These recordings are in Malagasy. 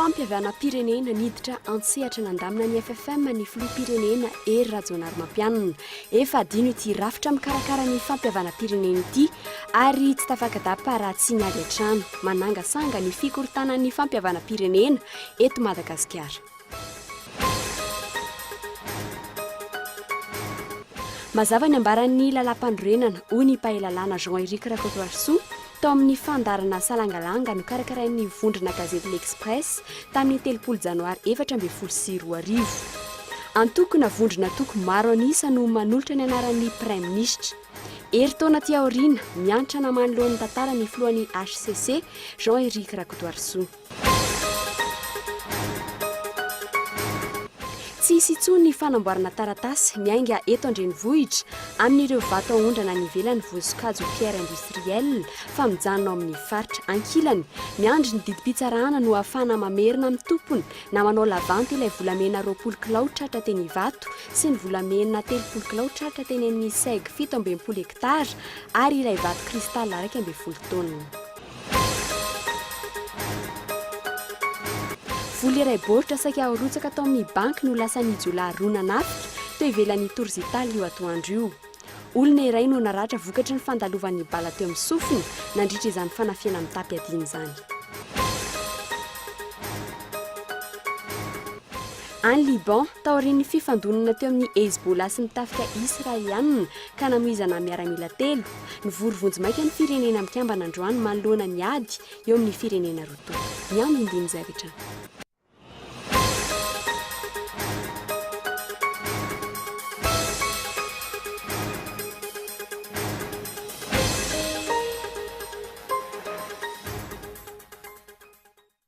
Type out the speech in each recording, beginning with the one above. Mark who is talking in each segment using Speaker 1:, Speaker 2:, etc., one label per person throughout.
Speaker 1: fampihavanam-pirenena niditra an-tsehatra nandamina ny FFM ny filoham-pirenena Hery Rajaonarimampianina. Efa adino ity rafitra mikarakara ny fampihavanam-pirenena ity ary tsy tafakadapa raha tsy ny avy hatrany manangasanga ny fikorontanan'ny fampihavanam-pirenena eto Madagasikara. Mazava ny ambaran'ny Lalàmpanorenana, hoy ny mpahelalàna Jean Eric Rakotoarisoa, tao amin'ny fandaharana Salangalanga nokarakarain'ny vondrona gazety L'Express tamin'ny telopolo Janoary efatra ambin'ny folo sy roa arivo. Antoko na vondron'antoko maro an'isa no manolotra ny anaran'ny Praiminisitra. Herintaona aty aoriana, miantrana manoloan'ny tantara ny filohan'ny hcc, Jean Eric Rakotoarisoa. Tsy hisy intsony ny fanamboarana taratasy miainga eto an-drenivohitra amin'ireo vato aondrana any ivelany voasokajy ho pierre industrielle fa mijanona ao amin'ny faritra. Ankilany, miandry ny didim-pitsarana no hahafahana mamerina amin'ny tompony na manao lavanty ilay volamena roapolo kilao tratra teny Ivato sy ny volamena telopolo kilao tratra teny amin'ny seg fito amby enimpolo hektara ary ilay vato cristal iraika ambin'ny folo taonina. Vola iray baoritra saika harotsaka tao amin'ny banky no lasan'ny jiolahy roa nanafika teo ivelan'ny Tours Italia io atoandro io. Olona iray no naratra vokatry ny fandalovan'ny bala teo amin'ny sofiny nandritra izany fanafihana mitam-piadiana izany. Any Liban, taorian'ny fifandonana teo amin'ny Hezbollah sy ny tafika Israelianina ka namoizana miaramila telo, Nivory vonjimaika ny Firenena Mikambana androany manoloana ny ady eo amin'ny firenena roa tonta. Ny andinindin'izay rehetra no.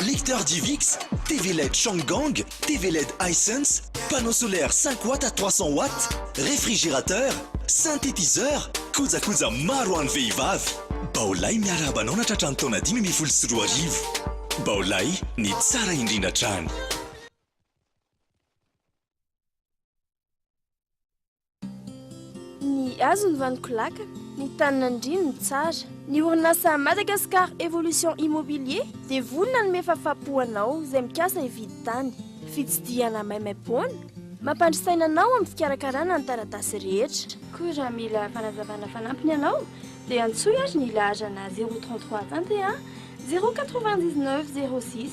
Speaker 2: Lecteur Divix, TV led Changgang, TV led Hisense, panneau solaire cinq watts à trois cents watts, réfrigérateur, synthétiseur, kojakoja maro ho an'ny vehivavy. Baolay miarahaba anao natratra ny taona dimy ambin'ny folo sy roa arivo. Baolay, ny tsara indrindra hatrany.
Speaker 3: Ny hazo ny vanon-kolaka, ny tany nandriany ny tsara. Ny orinasa Madagascar Evolution Immobilier dia vonona hanome fafà-po ho anao izay mikasa hividy tany. Fitsidihana maimaim-poana mampandry saina anao amin'ny fikarakarana ny taratasy rehetra. Koa raha mila fanazavana fanampiny ianao dia antsoy ary ny laharana zéro trente trois tantehà zéro quatre-vingt-dix-neuf zéro six.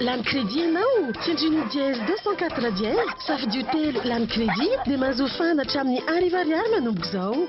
Speaker 4: Lany crédit ianao? Tsindrino dièse deux cent quatre dièse, safidio telo lany crédit dia mahazo fahana hatramin'ny arivo ariary manomboka izao.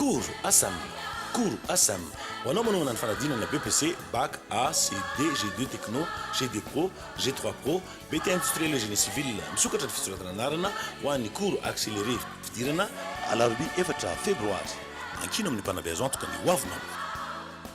Speaker 5: Cours Asam Cours Asam Ho anao manohana ny fanadinana BEPC, Bac, AC, D, G2 Techno, G2 Pro, G3 Pro, BT Industriel et Génie Civil, misokatra ny fisoratana anarana ho an'ny Cours Accéléré fidirana, Alarobia efatra Febroary, ankino amin'ny mpanabe azo antoka ny hoavinao.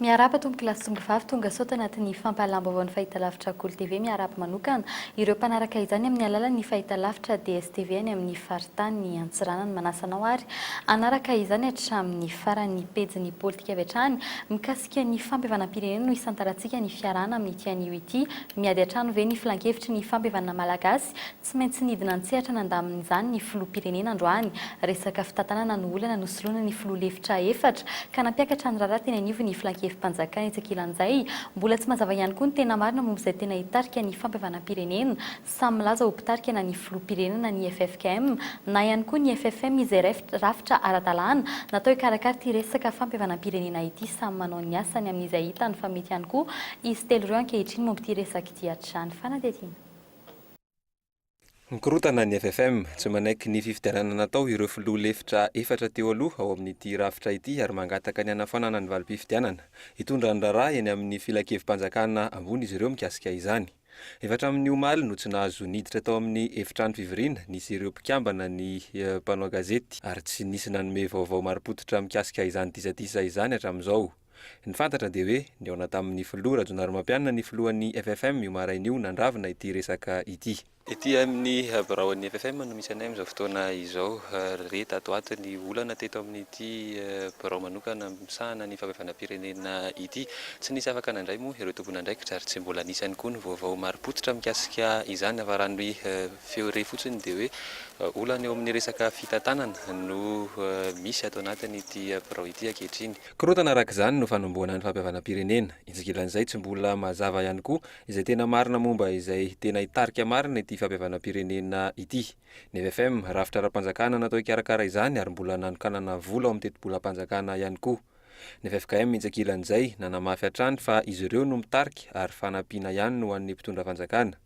Speaker 6: Miarahaba Tompoko lahy sy Tongolo vavy tonga sao tanaty ny fampahalam-baovaon'ny Fahitalavitra Akoly TV miarahaba manokana ireo mpanaraka izany amin'ny alalan'ny Fahitalavitra DSTV any amin'ny Faritany Antsiranana manasa anao ary hanaraka izany hatramin'ny farany ny pejin'ny politika avy hatrany mikasika ny fampihavanam-pirenena no hisantarantsika ny fiarahana amin'ity anio ity miady an-trano ve ny filankevitry ny fampihavanana malagasy Tsy maintsy nidina an-tsehatra nandamin'izany ny Filoham-pirenena androany. Resaka fitantanana no olana nosoloina ny Filoha lefitra efatra, ka nampiakatra ny raharaha teny anivon'ny ny Filankevi-panjakana etsy ankilan'izay. Mbola tsy mazava ihany koa ny tena marina momba izay tena hitarika ny fampihavanam-pirenena. Samy milaza ho mpitarika na ny Filoham-pirenena ny ffkm, na ihany koa ny ffm izay rafitra ara-dalàna natao hikarakara ity resaka fampihavanam-pirenena ity. Samy manao ny asany amin'izay hitany fa mety ihany koa izy telo ireo ankehitriny momba ity resaka ity hatrany fanadihadiana.
Speaker 7: Mikorontana ny FFM, tsy manaiky ny fifidianana natao ireo filoha lefitra efatra teo aloha ao amin'ity rafitra ity ary mangataka ny hanafoanana ny valim-pifidianana hitondra ny raharaha eny amin'ny Filankevi-panjakana ambony izy ireo mikasika izany. Efa hatramin'ny omaly no tsy nahazo niditra tao amin'ny efitrano fivoriana nisy ireo mpikambana ny mpanao gazety ary tsy nisy nanome vaovao marim-pototra mikasika izany disadisa izany hatramin'izao. Ny fantatra dia hoe nihaona tamin'ny filoha Rajonarimampianina ny filohan'ny FFM io maraina io nandravina ity resaka ity. Ety amin'ny biraon'ny FFM no misy anay amin'izao fotoana izao. Re tato ato ny olana teto amin'ity birao manokana misahana ny fahabevanam-pirenena ity. Tsy nisy afaka nandray moa ireo tompon'andraikitra ary tsy mbola nisy ihany koa ny vaovao marim-pototra mikasika izany afa-ran'ny feo re fotsiny dia hoe olana eo amin'ny resaka fitantanana no misy ato anatin'ity birao ity ankehitriny. Korontana araka izany no fanombohana ny fampihavanam-pirenena. Itsikilan'izay tsy mbola mazava ihany koa izay tena marina momba izay tena hitarika marina ity fampihavanam-pirenena ity. Ny FFM, rafitra ara-panjakana natao hikarakara izany ary mbola nanokanana vola ao amin'ny tetibolam-panjakana ihany koa. Ny ffkm itsikilan'izay nanamafy hatrany fa izy ireo no mitarika ary fanampiana ihany no an'ny mpitondra fanjakana.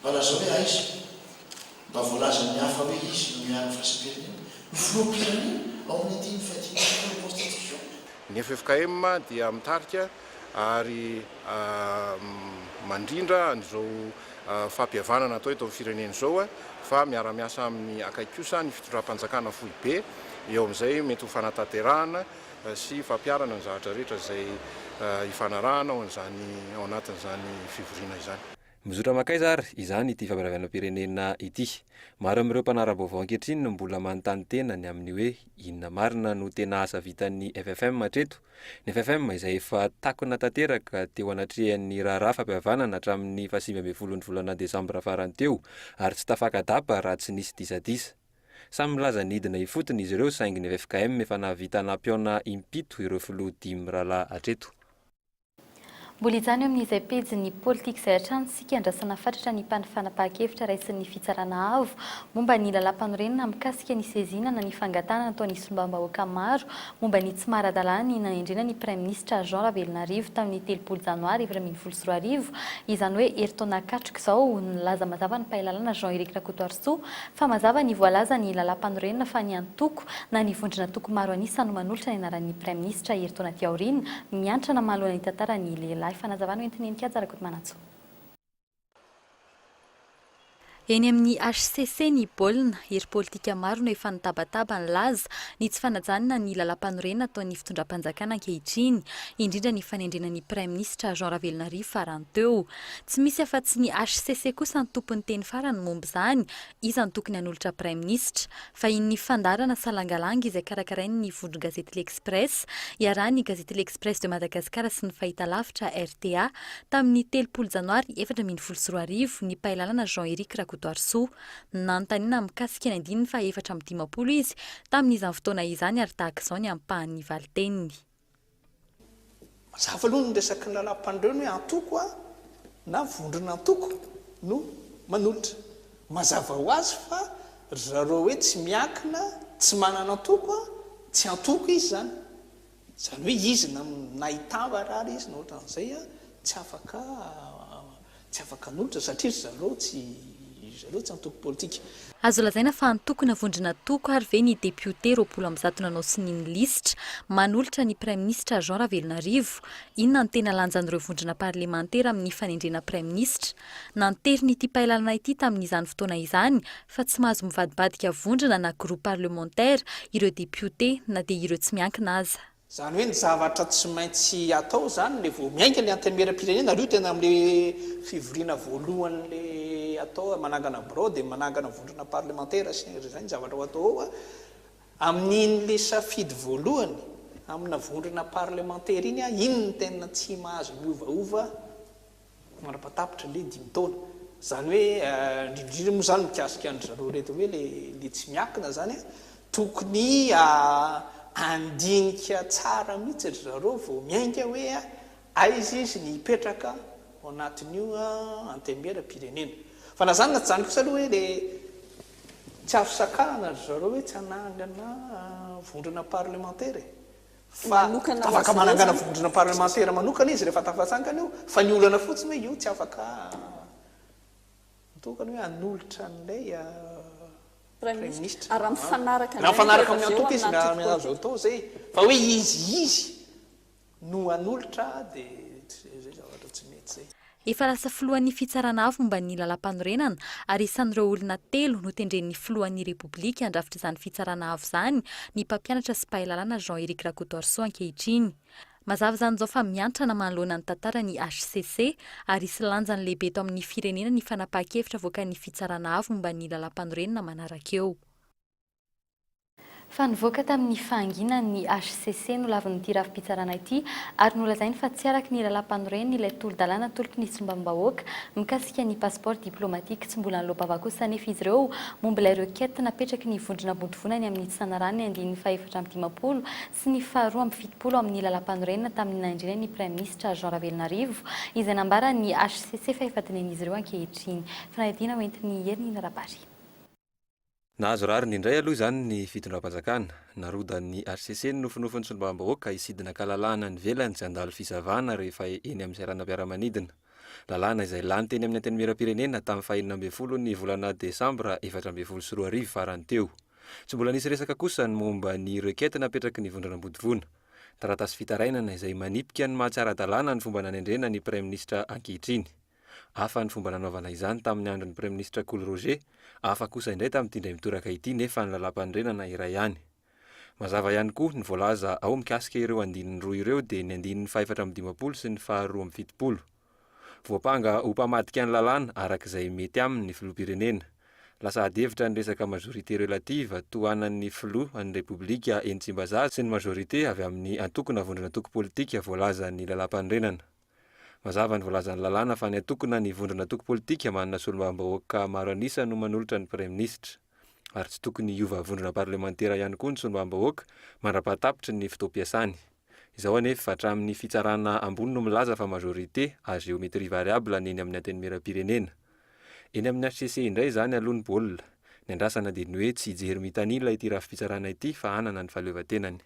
Speaker 8: Mba lazao hoe aiza? Mba voalazan'ny hafa hoe izy no miaro ny firaisam-pirenena? Ny filoham-pirenena ao amin'ny dimy faha dimy sy folo
Speaker 9: Constitution? Ny ffkm dia mitarika ary mandrindra an'izao fampihavanana atao eto amin'ny firenena izao fa miara-miasa aminy akaiky kosa ny fitondram-panjakana foibe, eo amin'izay mety ho fanatanterahana sy fampiharana ny zavatra rehetra izay ifanarahana ao an'izany ao anatin'izany fivoriana izany. Mizotra mankaiza ary
Speaker 7: izany ity famiravanam-pirenena ity? Maro amin'ireo mpanara-baovao ankehitriny no mbola manontany tena ny amin'ny hoe inona marina no tena asa vitan'ny FFM hatreto? Ny FFM izay efa takona tanteraka teo anatrehan'ny raharaha fampihavanana hatramin'ny fahasivy ambin'ny folon'ny volana desambra farany teo ary tsy tafaka-dapa raha tsy nisy disadisa. Samy milaza ny hidina ifotony izy ireo saingy ny ffkm efa nahavita nampihaona impito ireo filoha dimy mirahalahy hatreto.
Speaker 6: Mbola hijanona eo amin'izay pejin'ny politika izay hatrany isika handrasana fatratra ny mpanfanapahan-kevitra raisin'ny Fitsarana Avo momba ny Lalàmpanorenana mikasika ny seziana na ny fangatahana nataon'ny Solombavambahoaka maro momba ny tsy maha-ara-dalàna ny nanendrena ny Praiminisitra Jean Ravelonarivo tamin'ny telopolo Janoary efatra ambin'ny folo sy roa arivo, izany hoe herintaona katroka izao. Nilaza mazava ny Mpahalalana Jean Eric Rakotoarisoa fa mazava ny voalazan'ny Lalàmpanorenana fa ny antoko na ny vondron'antoko maro an'isa no manolotra ny anaran'ny Praiminisitra herintaona aty aoriana Miantra na mahaloana ny tantara ny lehilahy. Fanazavana ho entin'ny Enikhaja Rakotomanantsoa. Eny amin'ny hcc ny baolina, hery politika maro no efa nitabataba ny laza ny tsy fanajanana ny lalàmpanorenana ataon'ny fitondram-panjakana ankehitriny, indrindra ny fanendrena ny praiminisitra Jean Ravelonarivo farany teo. Tsy misy afa-tsy ny hcc kosa ny tompon'ny teny farany momba izany, iza no tokony hanolotra praiminisitra? Vahinin'ny fandaharana Salangalanga izay karakarain'ny vondron-gazety L'Express, iarahan'ny gazety L'Express de Madagascar sy ny Fahitalavitra, rta, tamin'ny telopolo Janoary efatra ambin'ny folo sy roa arivo, ny mpahalalana Jean Eric Rakotoarisoa. Nanontaniana mikasika ny andininy faha efatra amby dimampolo izy tamin'izany fotoana izany ary tahaka izao ny ampahan'ny valiteniny.
Speaker 10: Mazava aloha ny resaky ny lalam-pandreo ny hoe antoko a na vondron'antoko no manolotra. Mazava ho azy fa ry zareo hoe tsy miankina, tsy manana antoko a, tsy antoko izy izany. Izany hoe izy na na hitambatra ary izy na ohatran'izay a, tsy afaka Tsy afaka hanolotra satria ry zareo tsy ry zareo tsy antoko politika. Azo lazaina fa
Speaker 6: antokona vondron'antoko ary ve ny depiote roapolo amby zato nanao sonia ny lisitra manolotra ny Praiminisitra Jean Ravelonarivo? Inona no tena lanjan'ireo vondrona parlemantera amin'ny fanendrena Praiminisitra? Nanteriny ity pailalana ity tamin'izany fotoana izany fa tsy mahazo mivadibadika vondrona na groupe parlementaire ireo depiote na dia ireo tsy miankina aza. Zany hoe ny zavatra
Speaker 10: tsy maintsy atao izany le vao miainga le antemeram-pirenena ary io tena amle fivoriana voalohany le atao hoe manangana birao de manangana vondrona parlemantera sy ny zay ny zavatra ho atao ao a, amin'iny le safidy voalohany amina vondrona parlemantera iny a iny no tena tsy mahazo miovaova. Mandrapaha tapitra le dimy taona. Zany hoe indrindrindra moa zany mikasika an-dry zareo reto hoe le le tsy miankina zany a, tokony handinika tsara mihitsy ry zareo vao miainga hoe aiza izy ny hipetraka ao anatin'io antenimieram-pirenena. Fa na zany na tsy zany kosa aloha hoe le tsy azo sakana ry zareo hoe tsy hanangana vondrona parlemantera e. fa afaka manangana vondrona parlemantera manokana izy rehefa tafatsangana io, fa ny olana fotsiny hoe io tsy afaka mitokana hoe hanolotra an'ilay praiminisitra,
Speaker 11: raha mifanaraka amin'ny antoko izy
Speaker 10: no azo atao izay, fa hoe izy izy no hanolotra dia izay zavatra tsy mety izay. Efa lasa filohan'ny
Speaker 6: Fitsarana Avo momba ny Lalàmpanorenana ary isan'ireo olona telo notendren'ny Filohan'ny Repoblika handrafitra izany Fitsarana Avo izany ny mpampianatra sy mpahay lalàna Jean Eric Rakotoarisoa ankehitriny. Mazava izany izao fa miantrana manoloana ny tantara ny hcc ary hisy lanjany lehibe eto amin'ny firenena ny fanapahan-kevitra avoakan'ny Fitsarana Avo momba ny Lalàmpanorenana manaraka eo. Fa nivoaka tamin'ny fahanginany ny hcc no lavin'ity rafi-pitsarana ity ary nolazainy fa tsy araka ny lalàmpanoren' ilay tolo-dalàna tolotry ny sombam-bahoaka mikasika ny passeport diplomatique tsy mbola nilobava kosa anefa izy ireo momba ilay requête napetraky ny vondrona ambondrivonany amin'ny tsy nanarahany ny andininy fahefatra amby dimampolo sy ny faharoa amby fitopolo amin'ny lalàmpanorenana tamin'ny nahendrena ny praiminisitra Jean Ravelonarivo izay nambaran'ny hcc fa efa dinihinizy ireo ankehitriny fanadihadiana hoentin'ny herinina ara-bary.
Speaker 7: Nahazo rariny indray aloha izany ny fitondram-panjakana. Narodan'ny hcc ny nofinofin'ny solombavambahoaka hisidina an-kalalahana any ivelany tsy handalo fisavana rehefa eny amin'ny seranam-piaramanidina. Lalàna izay lany teny amin'ny Antenimierampirenena tamin'ny fahenina ambin'ny folo ny volana desambra efatra ambin'ny folo sy roa arivo farany teo. Tsy mbola nisy resaka kosa ny momba ny requête napetraky ny Vondrona Ambodivona. Taratasy fitarainana izay manipika ny maha-tsy ara-dalàna ny fomba nanendrena ny Praiminisitra ankehitriny. Hafa ny fomba nanaovana izany tamin'ny andron'ny Praiminisitra Kolo Roger, hafa kosa indray tamin'ity indray mitoraka ity nefa ny Lalàmpanorenana iray ihany. Mazava ihany koa ny voalaza ao mikasika ireo andininy roa ireo dia ny andininy fahefatra amby dimampolo sy ny faharoa amby fitopolo. Voampanga ho mpamadika ny lalàna araka izay mety aminy ny Filoham-pirenena. Lasa adihevitra ny resaka majorité relative tohanan'ny Filoha an'ny Repoblika eny Tsimbazaza sy ny majorité avy amin'ny antoko na vondron'antoko politika voalazan'ny Lalàmpanorenana. Mazava ny voalazan'ny lalàna fa ny antokona ny vondrona antoko politika manana solombavambahoaka maro an'isa no manolotra ny Praiminisitra. Ary tsy tokony hiova vondrona parlemantera ihany koa ny solombavambahoaka mandrapahatapitry ny fotoam-piasany. Izao anefa hatramin'ny fitsarana ambony no milaza fa majorité à géométrie variable ny eny amin'ny Antenimierampirenena. Eny amin'ny hcc indray izany aloha ny baolina. Ny andrasana dia ny hoe tsy hijery mitanila ity rafi-pitsarana ity fa hanana ny fahaleovantenany.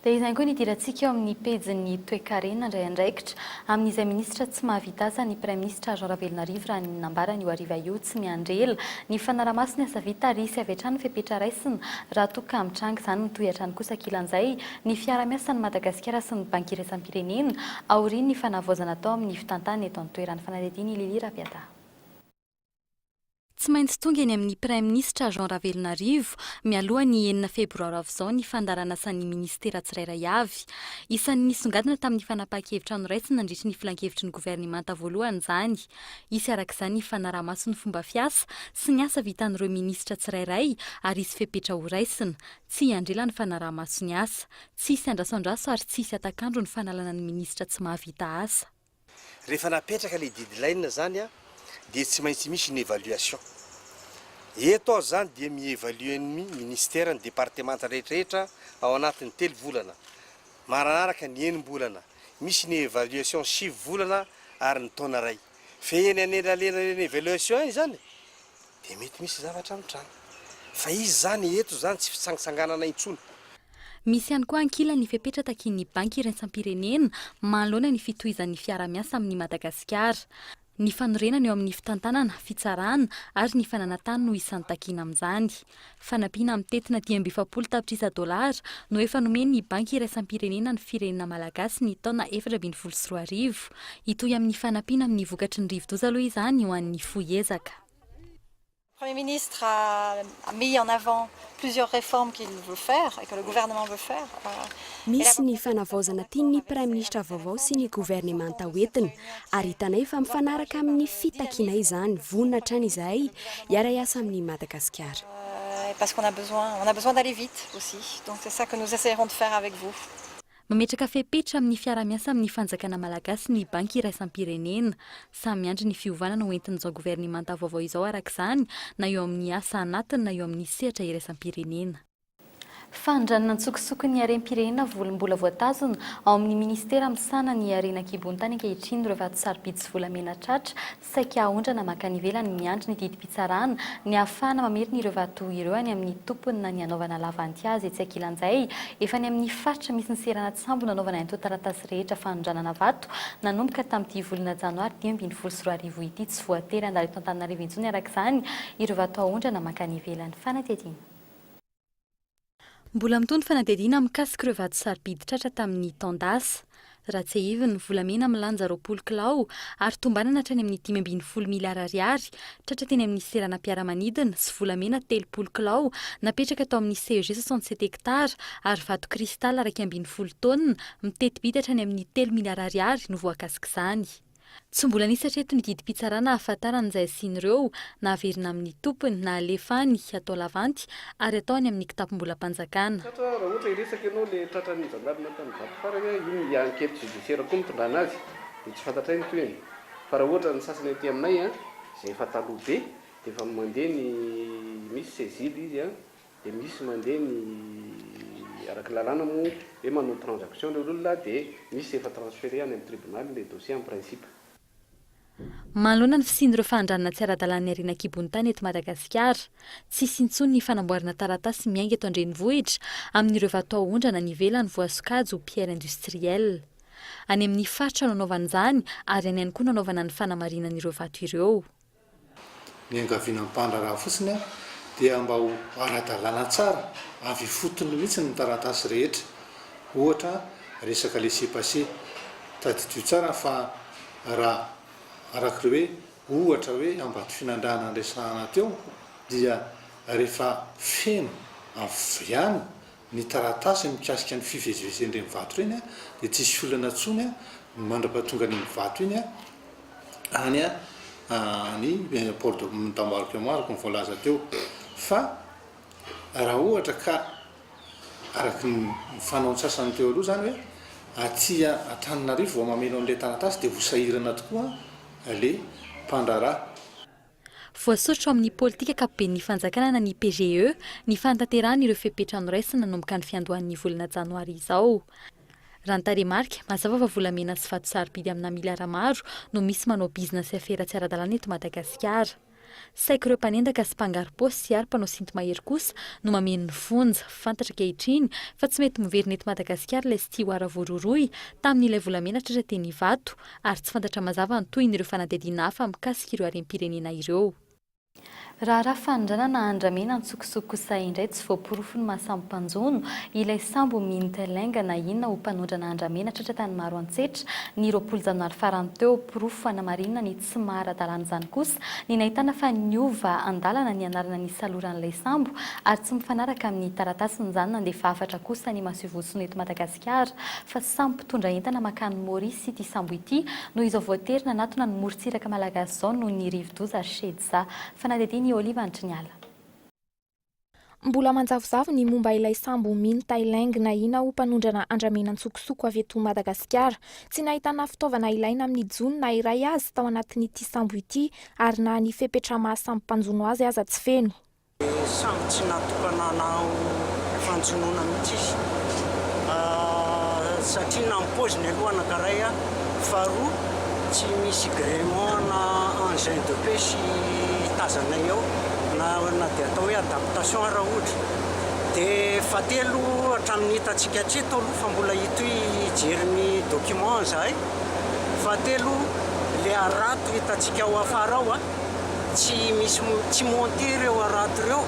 Speaker 6: Dia izany koa ny idirantsika eo amin'ny pejin'ny toekarena handray andraikitra amin'izay minisitra tsy mahavita asa ny praiminisitra Jean Ravelonarivo raha ny nambarany io hariva io tsy miandry ela ny fanaramaso ny asa vita ary hisy avy hatrany ny fepetra raisina raha toa ka mitranga izany mitohy hatrany kosa ankilan'izay ny fiarahamiasan'i Madagasikara sy ny banky iraisam-pirenena aorian'ny fanavaozana atao amin'ny fitantanana eto an-toerana fanadihadiana i Lily Raviada. Tsy maintsy tonga eny amin'ny Praiminisitra Jean Ravelonarivo mialoha ny enina febroary ho avy izao ny fandaharanasan'ny minisitera tsirairay avy. Isan'ny nisongadina tamin'ny fanapahan-kevitra noraisina nandritry ny filankevitry ny governemanta voalohany izany. Hisy araka izany ny fanaraha-maso ny fomba fiasa sy ny asa vitan'ireo minisitra tsirairay ary hisy fepetra horaisina. Tsy hiandrila ny fanaraha-maso ny asa. Tsy hisy andrasoandraso ary tsy hisy hatak'andro ny fanalana ny minisitra tsy mahavita asa. Rehefa
Speaker 12: napetraka ilay deadline izany dia tsy maintsy misy ny évaluation. Eto aho izany dia mi-évaluer ny Ministera, ny departemanta rehetrarehetra ao anatin'ny telo volana. Maranaraka ny enim-bolana, misy ny évaluation sivy volana ary ny taona iray. Fehiny an'elalela ireny évaluation ireny izany Dia mety misy zavatra mitranga. Fa iza izany e? Eto izany tsy fitsangatsanganana intsony. Misy ihany
Speaker 6: koa ankilany ny fepetra takian'ny Banky iraisam-pirenena manoloana ny fitohizan'ny fiarahamiasa amin'i Madagasikara. Ny fanorenana eo amin'ny fitantanana, fitsarana ary ny fananantany no isan'ny takiana amin'izany. Fanampiana mitentina dimy amby efapolo tapitrisa dolara no efa nomen'ny Banky iraisam-pirenena ny firenena malagasy ny taona efatra ambin'ny folo sy roa arivo. Hitohy amin'ny fanampiana amin'ny vokatry ny rivodoza aloha izany ho an'ny fohy ezaka.
Speaker 13: Premier ministre a mis en avant plusieurs réformes qu'il veut faire et que le gouvernement veut faire. Misy ny
Speaker 1: fanavaozana tian'ny Praiminisitra vaovao sy ny governemanta ho entina, ary hitanay fa mifanaraka amin'ny fitakianay izany, vonona hatrany izahay hiara-hiasa amin'i Madagasikara.
Speaker 13: Mametraka
Speaker 6: fepetra amin'ny fiaraha-miasa amin'ny fanjakana malagasy ny Banky iraisam-pirenena. Samy miandry ny fiovana ho entin'izao governemanta vaovao izao araka izany, na eo amin'ny asa anatiny na eo amin'ny sehatra iraisam-pirenena. Fanondranana an-tsokosoko ny harem-pirenena voly mbola voatazona ao amin'ny minisitera misahana ny harena an-kibontany ankehitriny ireo vato sarobidy sy volamena tratra saika haondrana mankany ivelany miandry ny didim-pitsarana ny hahafahana mamerina ireo vato ireo any amin'ny tompony na ny hanaovana lavanty azy etsy ankilan'izay efa any amin'ny faritra misy ny seranan-tsambo nanaovana antontan-taratasy rehetra fanondranana vato nanomboka tamin'ity volana janoary dimy ambin'ny folo sy roa arivo ity tsy voatery handalo eto Antananarivo intsony araka izany ireo vato haondrana mankany ivelany fanadihadiana Mbola mitohy ny fanadihadiana mikasika ireo vato sarobidy tratra tamin'ny taon-dasa. Raha tsiahivina, volamena milanja roapolo kilao ary tombanana hatrany amin'ny dimy ambin'ny folo miliara ariary tratra teny amin'ny seranam-piaramanidina sy volamena telopolo kilao napetraka tao amin'ny CEG soixante sept hectares ary vato cristal iraika ambin'ny folo taonina miteti-bidy hatrany amin'ny telo miliara ariary no voakasik'izany. Tsy mbola nisy hatreto ny didim-pitsarana ahafantarana izay hasian'ireo na haverina amin'ny tompony na halefa any hatao lavanty ary hatao any amin'ny kitapom-bolam-panjakana. Tratra raha ohatra hiresaka
Speaker 14: ianao ilay tratran'ny zandary tany Ivato farany a, iny dia enquête judiciaire koa nitondrana azy dia tsy fantatray ny tohiny fa raha ohatra ny sasany aty aminay a, izay efa taloha be dia efa mandeha ny misy cegil izy a, Dia misy mandeha ny araka lalàna moa hoe manao transaction ilay olona dia misy efa transfere any amin'ny tribonaly ilay dossier en principe.
Speaker 6: Manoloana ny fisian'ireo fahandranana tsy ara-dalàna niariana an-kibon'ny tany eto Madagasikara, tsy hisy intsony ny fanamboarana taratasy miainga eto an-drenivohitra amin'ireo vato haondrana any ivelany voasokajy ho pierre industriel. Any amin'ny faritra no anaovana izany ary any ihany koa no anaovana ny fanamarinan'ireo vato ireo.
Speaker 10: Niangaviana ampandraharaha fotsiny aho dia mba ho ara-dalàna tsara avy ifotony mihitsy ny taratasy rehetra, ohatra resaka laisser-passer. Tadidio tsara fa raha araka ireo hoe ohatra hoe Ambatofinandrahana niresahana teo dia rehefa feno avy any ny taratasy mikasika ny fivezivezen'ireny vato ireny dia tsy hisy olana intsony ny mandrapahatongan'iny vato iny any any port de d'embarque moa araka ny voalaza teo fa raha ohatra ka araka ny fanao antsasany teo aloha izany hoe aty Antananarivo vao mameno an'ilay taratasy dia ho sahirana tokoa ilay mpandraharaha.
Speaker 6: Voasotro amin'ny politika ankapoben'ny fanjakana na ny PGE ny fanatanterahana ireo fepetra noraisina nanomboka ny fiandohan'ny volana janoary izao. Raha ny tarehimarika, mazava fa volamena sy vato sarobidy amina miliara maro no misy manao bizina sy afera tsy ara-dalàna eto Madagasikara. Saiky ireo mpanendaka sy mpangaro-paosy ary mpanao sinto-mahery kosa no mameno ny fonja. Fantatra ankehitriny fa tsy mety miverina eto Madagasikara ilay Stiwara voarohirohy tamin'ilay volamena tratra teny Ivato, ary tsy fantatra mazava ny tohiny ireo fanadihadiana hafa mikasika ireo harem-pirenena ireo. Raharaha fanondranana andramena an-tsokosoko kosa indray tsy voaporofo ny maha sambo mpanjono ilay sambo Minh Te Leng na inona ho mpanondrana andramena tratra tany Maroantsetra ny roapolo janoary farany teo. Porofo fanamarinana ny tsy maha ara-dalàna izany kosa ny nahitana fa niova an-dalana ny anarana nisaloran'ilay sambo ary tsy mifanaraka amin'ny taratasy nijanona handefa hafatra kosa ny masoivohosony eto Madagasikara. Madagasikara, fa samy mpitondra entana makany Maurice ity sambo ity, noho izao voatery nanatona ny morontsiraka malagasy izao noho ny rivodoza Shedza. Fanadihadian'i Olive Andriniala.
Speaker 11: Mbola manjavozavo ny momba ilay sambo Min Thai Leng nahiana ho mpanondrana andramena an-tsokosoko avy eto Madagasikara. Tsy nahitana fitaovana ilaina amin'ny jono na iray aza tao anatin'ity sambo ity ary na ny fepetra maha samy mpanjono azy aza tsy feno. Samy tsy
Speaker 15: natokana hanao fanjonoana mihitsy izy satria na ny paoziny aloha anankiray a, faharoa tsy misy gréement na engin de pêche tazanay ao na na dia atao hoe adaptation ary raha ohatra dia fahatelo hatramin'ny hitantsika hatreto aloha fa mbola hitohy hijery ny document izahay, fahatelo ilay harato hitantsika ao afara ao a. tsy misy tsy monter ireo harato ireo,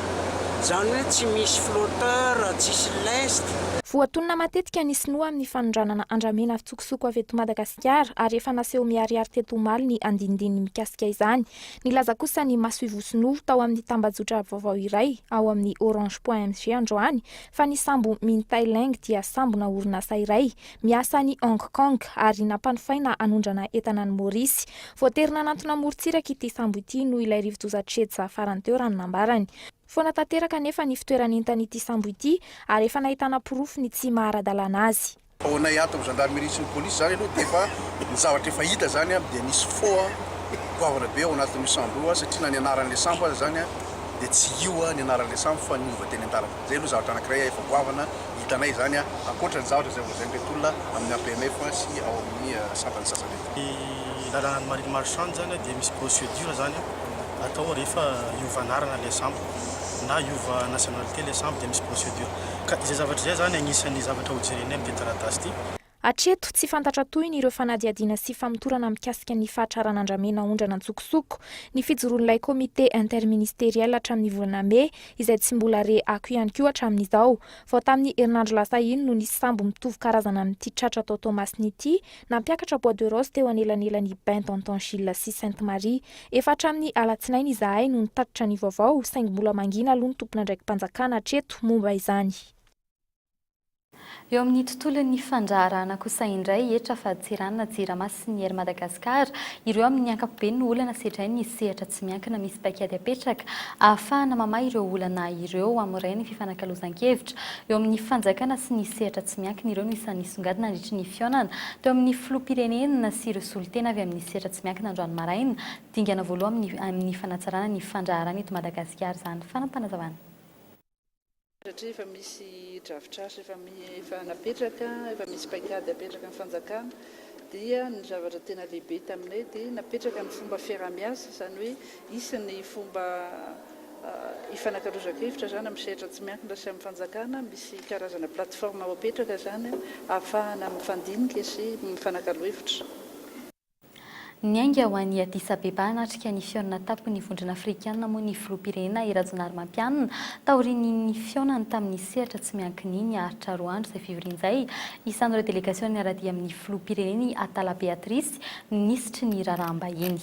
Speaker 15: izany hoe tsy misy flotteur, tsisy lest. Voatonona matetika
Speaker 11: ny sinoa amin'ny fanondranana andramena fitsokosoko avy eto Madagasikara ary efa naseho miharihary teto omaly ny andinindininy mikasika izany. Nilaza kosa ny masoivoho sinoa tao amin'ny tambajotra vaovao iray ao amin'ny orange point mg androany fa ny sambo Min Thai Leng dia sambona orinasa iray Miasa any Hong Kong ary nampanofaina hanondrana entana any Maorisy. Voatery nanantona morontsiraka ity sambo ity noho ilay rivodoza Cedsa farany teo raha ny nambarany. Foana tanteraka anefa ny fitoeran'entan'ity sambo ity ary efa nahitana porofo ny tsy maha ara-dalàna azy. Vao nay ato amin'ny
Speaker 16: Gendarmerie sy ny Police izany aloha dia efa ny zavatra efa hita izany dia nisy fo goavana be ao anatin'io sambo io satria na ny anaran'ilay sambo aza izany dia tsy io ny anaran'ilay sambo fa niova teny an-dalana. Izay aloha zavatra anankiray efa goavana Hitanay izany ankoatra ny zavatra izay holazain'ireto olona amin'ny APMF sy ao amin'ny sampana sasany. Ny lalànan'i
Speaker 17: Marine Marchand izany dia misy procedure izany atao rehefa hiova anarana ilay sambo na hiova nationalité ilay sambo dia misy procedure ka izay zavatra izay izany anisan'ny zavatra hojerenay amin'ity taratasy ity. Hatreto, tsy
Speaker 11: fantatra tohiny ireo fanadihadiana sy famotorana mikasika ny fahatrarana andramena aondrana an-tsokosoko ny fijoroan'ilay Comité interministériel hatramin'ny volana mey, izay tsy mbola re ako ihany koa hatramin'izao. Vao tamin'ny herinandro lasa iny no nisy sambo mitovy karazana amin'ity tratra tao Toamasina ity, nampiakatra bois de rose teo anelanelan'i Bain d'Antan Gilles sy Sainte Marie. Efa hatramin'ny alatsinainy izahay no nitatitra ny vaovao, saingy mbola mangina aloha ny tompon'andraiki-panjakana hatreto momba izany.
Speaker 6: Eo amin'ny tontolon'ny fandraharahana kosa indray, hetra fa Tsiràna, Jirama sy ny Air Madagascar ireo amin'ny ankapobeny no olana sedrain'ny sehatra tsy miankina misy paikady apetraka ahafahana mamaha ireo olana ireo amin'ny ray ny fifanakalozan-kevitra eo amin'ny fanjakana sy ny sehatra tsy miankina ireo no isan'ny nisongadina nandritry ny fihaonana teo amin'ny filoham-pirenena sy ireo solontena avy amin'ny sehatra tsy miankina androany maraina dingana voaloha amin'ny fanatsarana ny fandraharana eto Madagasikara izany fanapanazavana
Speaker 18: Satria efa misy drafitrasa efa efa napetraka, efa misy paikady apetraky ny fanjakana, dia ny zavatra tena lehibe taminay dia napetraka ny fomba fiaraha-miasa, izany hoe hisy ny fomba hifanakalozan-kevitra izany amin'ny sehatra tsy miankina sy amin'ny fanjakana, misy karazana plateforme ho apetraka izany ahafahana mifandinika sy mifanakalo hevitra.
Speaker 6: Niainga ho an'i Addis Abeba hanatrika ny fihaonana tampon'ny Vondrona Afrikana moa ny Filoham-pirenena I Rajaonarimampianina taorian'iny fihaonany tamin'ny sehatra tsy miankina iny aritra roa andro izay fivorian'izay isan'ireo delegasion'ny miara-dia amin'ny Filoham-pirenena I Atala Beatrice, Minisitry ny Raharaham-bahiny.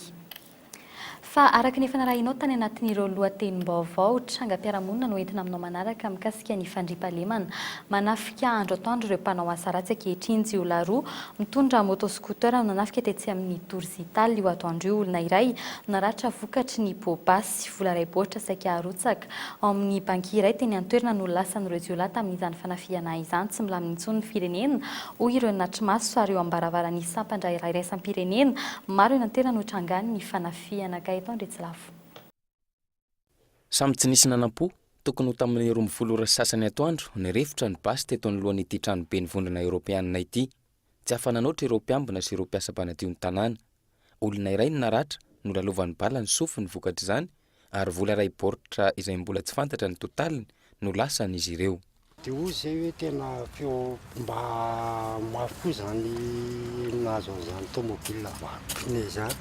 Speaker 6: Fa araka ny efa narahinao tany anatin'ireo lohatenim-baovao, trangam-piarahamonina no entina aminao manaraka mikasika ny fandriampahalemana. Manafika andro atoandro ireo mpanao asa ratsy ankehitriny. Jiolahy roa mitondra moto scooter no nanafika tetsy amin'ny Tour Zital io atoandro io olona iray no naratra vokatry ny poa-basy. Vola iray baoritra saika arotsaka. Ao amin'ny banky iray teny an-toerana no lasan'ireo jiolahy tamin'izany fanafihana izany. Tsy milamina intsony ny firenena, hoy ireo natri-maso ary eo amin'ny baravaran'ny sampan-draharaha iraisam-pirenena maro eny an-toerana no trangan'ny fanafihana. Gaëtan Andriatsilavo.
Speaker 19: Samy tsy nisy nanam-po. Tokony ho tamin'ny roa ambin'ny folo ora sy sasany atoandro, nirefotra ny basy teto anoloan'ity tranoben'ny Vondrona Eoropeanina ity. Tsy afa-nanoatra ireo mpiambina sy ireo mpiasa mpanadio ny tanàna. Olona iray no naratra, nolalovan'ny bala ny sofiny vokatr'izany ary vola iray baoritra izay mbola tsy fantatra ny totaliny no lasan'izy ireo. Dia hoy izay hoe
Speaker 20: tena feo mba mafy koa izany nahazo an'izany tomobilina vaky pneu izany.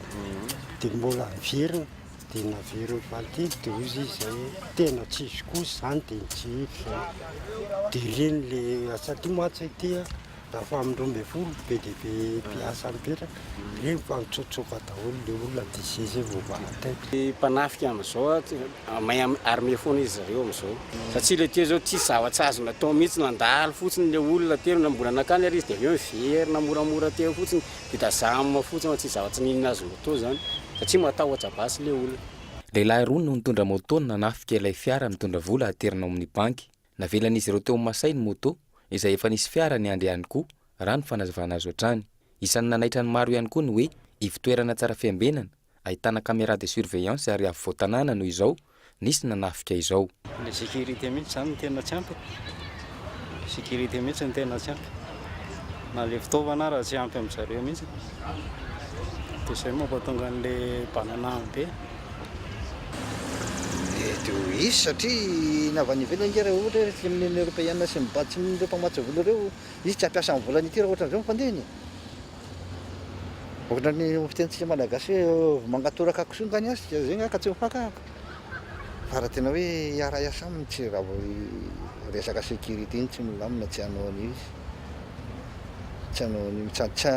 Speaker 20: Dia mbola niverina, dia naverina ny fahatelo dia hoy izy izay hoe tena tsy izy kosa izany dia nitsihify izay. Dia ireny ilay satria mantsy aty Rehefa amin'ny roa ambin'ny folo be dia be mpiasa mipetraka, dia mitsotsoka daholo ilay olona dia izay izay vao vahan-tena. Ny mpanafika amin'izao
Speaker 21: mahay armer foana izy ireo amin'izao, satria ilay teo izao tsisy zava-tsy azony atao mihitsy, nandalo fotsiny ilay olona teo, na mbola nankany ary izy dia avy eo niverina moramora teo fotsiny, vita jam fotsiny fa tsisy zava-tsy n'inona azony atao izany, satria matahotra basy ilay olona. Lehilahy roa no
Speaker 19: nitondra moto nanafika ilay fiara mitondra vola haterina ao amin'ny banky, Navelan'izy ireo teo Masay ny moto, izay efa nisy fiara niandry ihany koa, raha ny fanazavana azo hatrany. Isan'ny nanaitra ny maro ihany koa ny hoe ivo-toerana tsara fiambenana, ahitana caméra de surveillance ary afovoan-tanàna noho izao nisy nanafika izao. Ilay sécurité
Speaker 15: mihitsy izany no tena tsy ampy e! Ilay sécurité mihitsy no tena tsy ampy. Na ilay fitaovana ara tsy ampy amin-dry zareo mihitsy. Dia izay no mampatonga an'ilay bananaham-be.
Speaker 22: Mety ho hisy satria ny avy any ivelany nge raha ohatra hoe resaka amin'ny Union Européenne sy ny Bad sy ny ireo mpamatsy vola ireo, izy tsy hampiasa ny volany ity raha ohatran'izao ny fandehany e! Ohatran'ny fitenintsika malagasy hoe ovy mangatoraka kisoa nga ny azy ka zay nga ka tsy mifakahaka. Fa raha tena hoe hiara-hiasa aminy tsy raha vao resaka sécurité iny tsy milamina tsy hanao an'io izy. Tsy hanao an'io, tsy tsy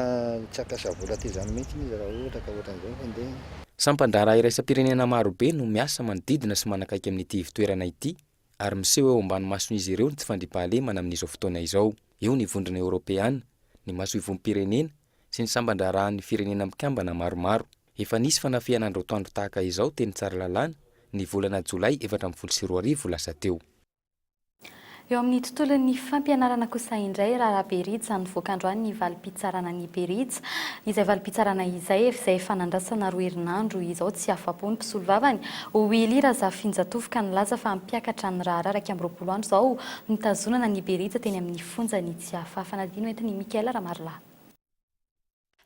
Speaker 22: hampiasa vola toy izany mihitsy izy raha ohatra ka ohatran'izao ny fandehany. Sampan-draharaha
Speaker 19: iraisam-pirenena maro be no miasa manodidina sy manakaiky amin'ity ivotoerana ity ary miseho eo ambany mason'izy ireo ny tsy fandriampahalemana amin'izao fotoana izao. Eo ny Vondrona Eoropeana, ny Masoivohom-pirenena sy ny samban-draharahan'ny firenena mikambana maromaro. Efa nisy fanafihana androtoandro tahaka izao teny Tsaralalàna ny volana jolay efatra ambin'ny folo sy roa arivo lasa teo. Eo
Speaker 6: amin'ny tontolon'ny fampianarana kosa indray, raharaha be rija nivoaka androany ny valim-pitsarana an'i Berija. Izay valim-pitsarana izay, izay efa nandrasana roa herinandro izao, tsy afa-po ny mpisolovavany. Willy Razafinjatovo ka nilaza fa hampiakatra ny raharaha iraika amby roapolo andro izao nitazonana an'i Berija teny amin'ny fonja ny tsy hahafaha. Fanadino entin'i Mickaël Ramarolahy.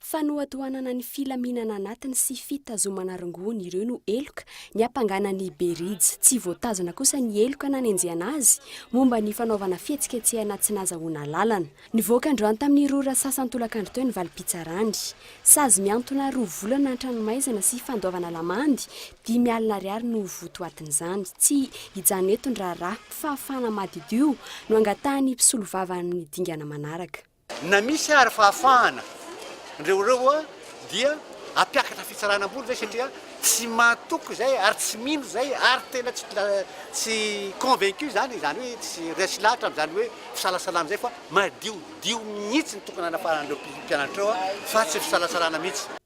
Speaker 6: Fanohatohanana
Speaker 1: ny filaminana anatiny sy fitazomana rongony ireo no heloka niampangana ny Berija. Tsy voatazona kosa ny heloka nanenjehana azy momba ny fanaovana fihetsiketsehana tsy nazahoana alalana. Nivoaka androany tamin'ny roa ora sasan-tolakandro teo ny valim-pitsarany. Sazy mihantona roa volana an-tranomaizina sy fandoavana lamandy dimy alina ariary no votoatin'izany. Tsy hijanona eto ny raharaha. Fahafahana madiodio no angatahan'ny mpisolovava amin'ny dingana manaraka. Na misy ary
Speaker 23: fahafahana ndreo reo a dia ampiakatra fitsarana ambony zay satria tsy matoky zay ary tsy mino zay ary tena tsy tsy convaincu zany zany hoe tsy resy lahatra amzany hoe fisalasalana zay fa madiodio mihitsy ny tokony hanafahan'reo mpianatra reo a fa tsy fisalasalana mihitsy.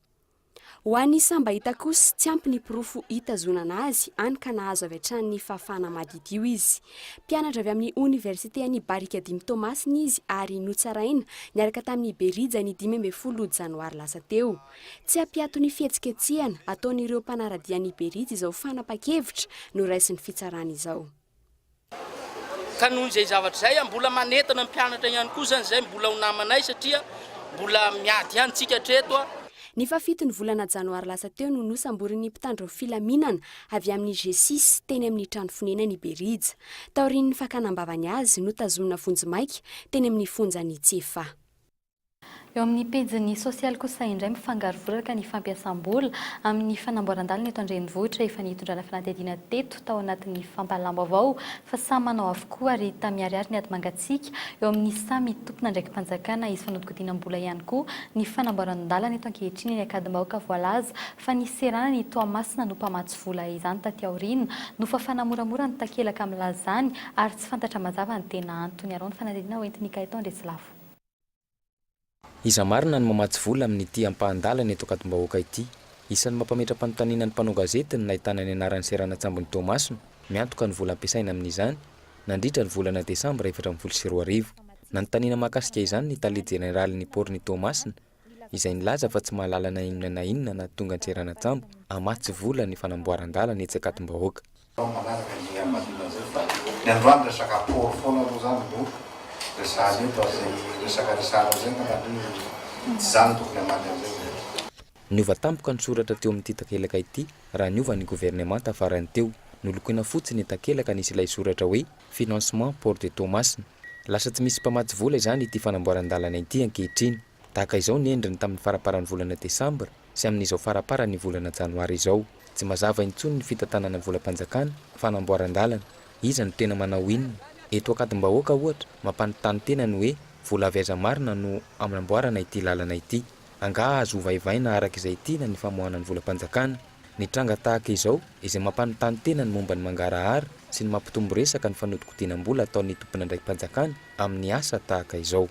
Speaker 23: Ho
Speaker 1: an'i Sambahita kosa, tsy ampy ny porofo hitazonana azy, hany ka nahazo avy hatrany ny fahafahana maditio izy. Mpianatra avy amin'ny Oniversite an'i Barikadimy Toamasina izy ary notsaraina niaraka tamin'i Berija ny dimy ambin'ny folo janoary lasa teo. Tsy hampiato ny fihetsiketsehana ataon'ireo mpanara-dia an'i Berija izao fanapan-kevitra noraisin'ny fitsarana izao.
Speaker 24: Ka noho izay zavatra izay, mbola manentana ny mpianatra ihany koa izany izay mbola ho namanay satria mbola miady ihany tsika hatreto. Ny fahafito ny
Speaker 1: volana janoary lasa teo no nosamborin'ny mpitandro filaminana avy amin'ny Gcis teny amin'ny trano fonenany i Berija. Taorian'ny fakana am-bavany azy, notazomina vonjimaika teny amin'ny fonjan'i Tsiefà.
Speaker 6: Eo amin'ny pejin'ny sosialy kosa indray mifangaro voraka ny fampiasam-bola amin'ny fanamboaran-dalana eto an-drenivohitra. Efa nitondrana fanadihadiana teto tao anatin'ny fampahalalam-baovao fa samy manao avokoa ary ta miharihary ny ady mangatsiaka eo amin'ny samy tompon'andraiki-panjakana. Hisy fanodinkodinam-bola ihany koa ny fanamboaran-dalana eto ankehitriny eny Ankadimbahoaka. Voalaza fa ny seranana i Toamasina no mpamatsy vola izany taty aoriana. Nofafana moramora ny takelaka milaza izany ary tsy fantatra mazava ny tena antony. Arao ny fanadihadiana hoentin'ny Kay Taondry Atsilafo.
Speaker 19: Iza marina no mamatsy vola amin'ity ampahan-dalana eto Ankadimbahoaka ity? Isan'ny mampametra-panontaniana ny mpanao gazety ny nahitana ny anaran'ny seranan-tsambon'i Toamasina miantoka ny vola ampiasaina amin'izany nandritra ny volana desambra efatra ambin'ny folo sy roa arivo. Nanontaniana mahakasika izany ny tale jeneralin'ny paorin'i Toamasina, izay nilaza fa tsy mahalala na inona na inona na tonga an-tseranantsambo hamaha tsy vola ny fanamboaran-dalana etsy Ankatombahoaka. Tao manaraka dia niambaliana zay fa
Speaker 22: ny androany resaka port foana aloha zany no resahana eto ary zay resaka resahana zay ngamba aloha no tsy zany no tokony hamaly an'izay zay. Niova
Speaker 19: tampoka ny soratra teo amin'ity takelaka ity raha niova ny governemanta farany teo. Nolokoina fotsy ny takelaka nisy ilay soratra hoe. Financement Port de Toamasina. Lasa tsy misy mpamatsy vola izany ity fanamboaran-dalana ity ankehitriny. Tahaka izao ny endriny tamin'ny faramparan'ny volana desambra sy amin'izao faraparan'ny volana janoary izao. Tsy mazava intsony ny fitantanana ny volam-panjakana, fanamboaran-dalana. Iza no tena manao inona? Eto Ankadimbahoaka ohatra, mampanontany tena ny hoe vola avy aiza marina no amnamboarana ity lalana ity? Angaha azo ovaivaina araka izay tiana ny famoahana ny volam-panjakana? Ny tranga tahaka izao, izay mampanontany tena ny momba ny mangarahara sy ny mampitombo resaka ny fanodinkodinam-bola ataon'ny tomponandraiki-panjakana amin'ny asa tahaka izao.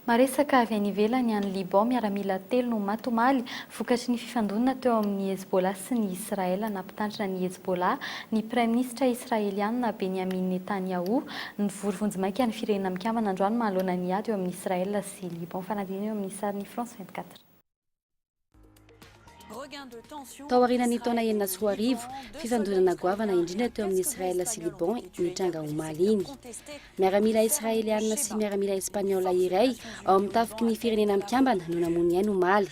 Speaker 6: Maresaka avy any ivelany any Liban, miaramila telo no maty omaly vokatry ny fifandonana teo amin'ny Hezbollah sy ny Israel. Nampitandrina ny Hezbollah ny Praiminisitra Israeliana Benjamin Netanyahu nivory vonjimaika ny Firenena Mikambana androany manoloana ny ady eo amin'i Israel sy Liban. Fanadinana eo amin'ny sarin'ny France vingt-quatre.
Speaker 2: Tao aorianan'ny taona enina sy roa arivo, fifandonana goavana indrindra teo amin'ny Israel sy Liban nitranga omaly iny. Miaramila Israeliana sy miaramila Espaniola iray ao amin'ny tafiky ny firenena mikambana no namono ny ainy omaly.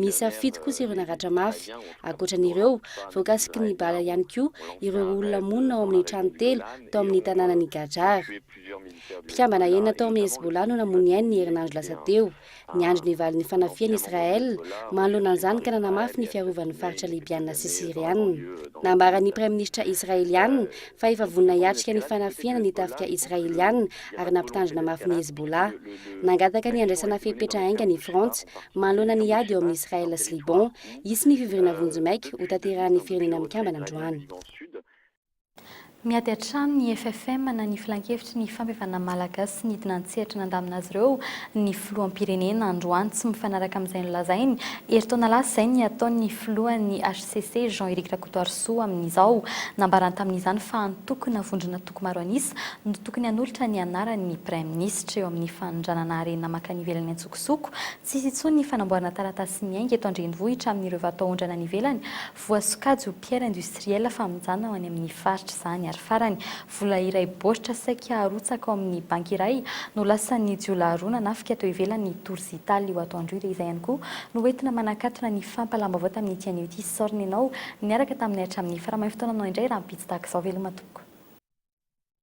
Speaker 2: Miisa fito kosa ireo naratra mafy. Ankoatran'ireo, voakasiky ny bala ihany koa ireo olona monina ao amin'ny trano telo tao amin'ny tanànan'i Gajar. Mpikambana enina tao amin'ny Hezbollah no namono ny ainy ny herinandro lasa teo. Niandry ny valin'ny fanafihan'i Israel manoloana an'izany ka nanamafy ny fiarovan'ny faritra Libyana sy Syriana. Nambaran'ny Praiminisitra Israeliana fa efa vonona hiatrika ny fanafihana ny tafika Israeliana ary nampitandrina mafy ny Hezbollah. Nangataka ny handraisana fepetra haingana i Frantsa manoloana ny ady eo amin'i Israel sy Liban. Hisy ny fivoriana vonjy maika hotanterahan'ny Firenena Mikambana androany. Miady
Speaker 6: hatrany ny FFM na ny Filankevitry ny Fampihevana Malagasy nidina an-tsehatra nandamina azy ireo ny Filoham-pirenena androany tsy mifanaraka amin'izay nolazainy herintaona lasa izay ny ataon'ny Filohan'ny hcc Jean Eric Rakotoarisoa amin'izao. Nambarany tamin'izany fa antokona vondrona toko maro an'isa no tokony hanolotra ny anaran'ny Praiminisitra eo amin'ny fanondranana harena mankany ivelany an-tsokosoko. Tsy hisy intsony ny fanamboarana taratasy miainga eto an-drenivohitra amin'ireo vataondrana any ivelany Voasokajy ho pierre industrielle famonjana ho any amin'ny faritra izany ary farany, vola iray baoritra saika harotsaka ao amin'ny banky iray no lasan'ny jiolahy roa nanafika teo ivelan'ny Tours Italy io atoandro io dia izay ihany koa no hoentina manakatona ny fampahalam-baovao tamin'ity anio ity. Sorry nenao niaraka taminay hatramin'ny faramaifotoananao indray rahampitso tahaka izao veloma tompoko.